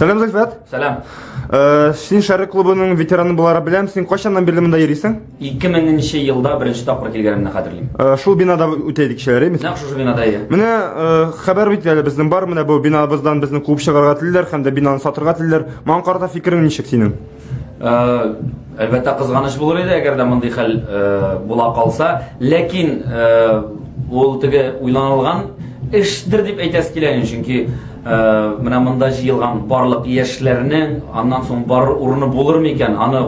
Сәлам, Зөлфәт. Сәлам. Э, син Шәрык клубының ветераны булара беләм. Син кайчаннан бирле монда йөрисең? 2000 елда беренче тапкыр килгәнемне хәтерлим. Э, шул бинада үтә идек кичәләр, әйме? Нәкъ шушы бинада иде. Менә э, хәбәр бит әле безнең бар, менә бу бинабыздан безне куып чыгарга телиләр һәм дә бинаны сатырга телиләр. Моңа карата фикерең ничек синең? Әлбәттә, кызганыч булыр иде, әгәр дә мондый хәл була калса. Ләкин ул теге уйланылган эштер дип әйтәсе килә, чөнки менә монда җыелган барлык яшьләрнең аннан соң бар урыны булыр микән? Аны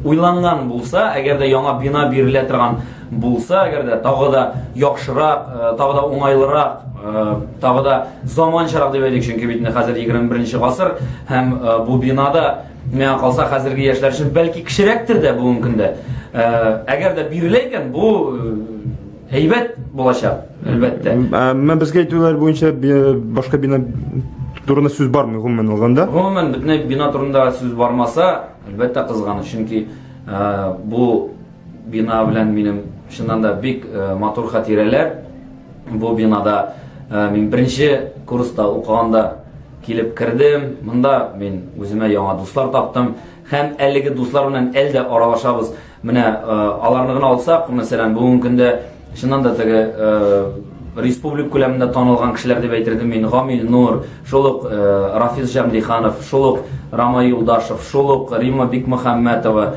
уйланган булса, әгәр дә яңа бина бирелә торган Булса әгәр дә тагы да яхшырак, э, тагы да уңайлырак, э, тагы да заманчарак дип әйтик, чөнки бит инде хәзер 21 гасыр һәм э, бу бинада миңа калса хәзерге яшьләр өчен бәлки кечерәктер дә бүгенге көндә. Әгәр дә бирелә икән, бу әйбәт булачак, әлбәттә. Менә безгә әйтүләр буенча башка бина турында сүз бармы гомумән алганда? Гомумән бөтен бина турында сүз бармаса, әлбәттә кызганыч, чөнки бу Бина белән минем чыннан да бик матур хатирәләр. Бу бинада мин беренче курста укыганда килеп кердем. Монда мин үземә яңа дуслар таптым һәм әлеге дуслар белән әлдә аралашабыз. Менә аларны гына алсак, мәсәлән, бүгенге көндә Чыннан да теге республик күләмендә танылган кешеләр дип әйтердем мин. Гамил Нур, шул ук Рафис Җамлиханов, шул ук Рама Юлдашев, шул ук Рима Бикмөхәммәтова,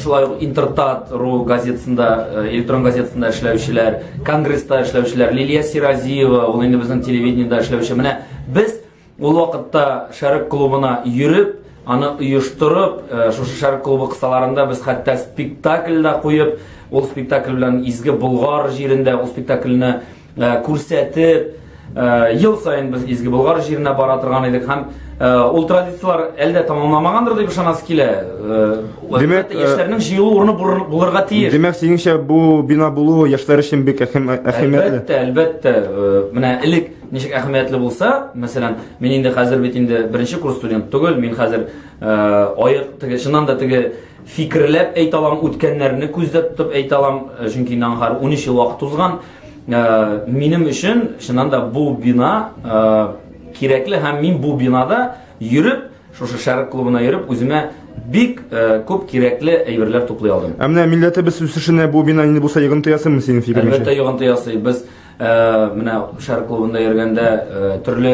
шулай ук Интертат ру газетасында, электрон газетасында эшләүчеләр, Конгресста эшләүчеләр, Лилия Сиразиева, ул инде безнең телевидениедә эшләүче. Менә без Ул вакытта Шәрык клубына йөреп, аны оештырып, э, шушы Шәрык клубы кысаларында без хәтта спектакль дә куеп, ул спектакль белән Изге Болгар җирендә ул спектакльне э, күрсәтеп, э, ел саен без Изге Болгар җиренә бара торган идек һәм ул традицияләр әлдә тамамламагандыр дип ышанасы килә. Димәк, яшьләрнең җыелу урыны булырга тиеш. Димәк, синеңчә бу бина булу яшьләр өчен бик әһәмиятле. Әлбәттә, әлбәттә. Менә элек Ничек әһәмиятле булса, мәсәлән, мин инде хәзер бит инде беренче курс студент түгел, мин хәзер аек теге чыннан да теге фикерләп әйтә алам, үткәннәрне күздә тотып әйтә алам, чөнки инде аңгар 13 ел вакыт узган. Минем өчен чыннан да бу бина кирәкле һәм мин бу бинада йөреп, шушы шәрык клубына йөреп, үземә бик э, күп кирәкле әйберләр туплый алдым. Ә менә милләтебез үсешенә бу бина инде булса йогынты ясыймы синең фикереңчә? Әлбәттә йогынты ясый. Без Э, менә шәһәр клубында йөргәндә э, төрле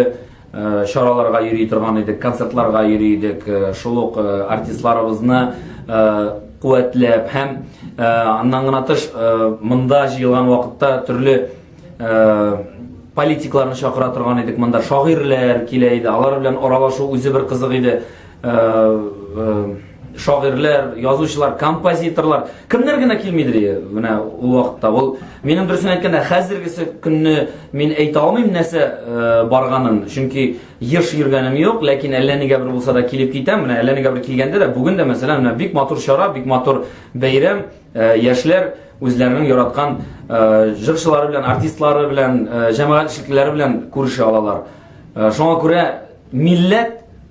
э, чараларга йөри торган идек, концертларга йөри идек. Шул ук артистларыбызны куәтләп һәм аннан гына тыш монда җыелган вакытта төрле политикларны чакыра торган идек. Монда шагыйрьләр килә иде. Алар белән аралашу үзе бер кызык иде. шагыйрьләр, язучылар, композиторлар, кемнәр генә килмидер ие, менә ул вакытта. Ул минем дөресен әйткәндә, хәзергесе көнне мин әйтә алмыйм нәрсә барганын, чөнки еш йөргәнем юк, ләкин әллә нигә бер булса да килеп китәм. Менә әллә нигә бер килгәндә дә, бүген дә мәсәлән, менә бик матур чара, бик матур бәйрәм, яшьләр үзләренең яраткан җырчылары белән, артистлары белән, җәмәгать эшлеклеләре белән күрешә алалар. Шуңа күрә милләт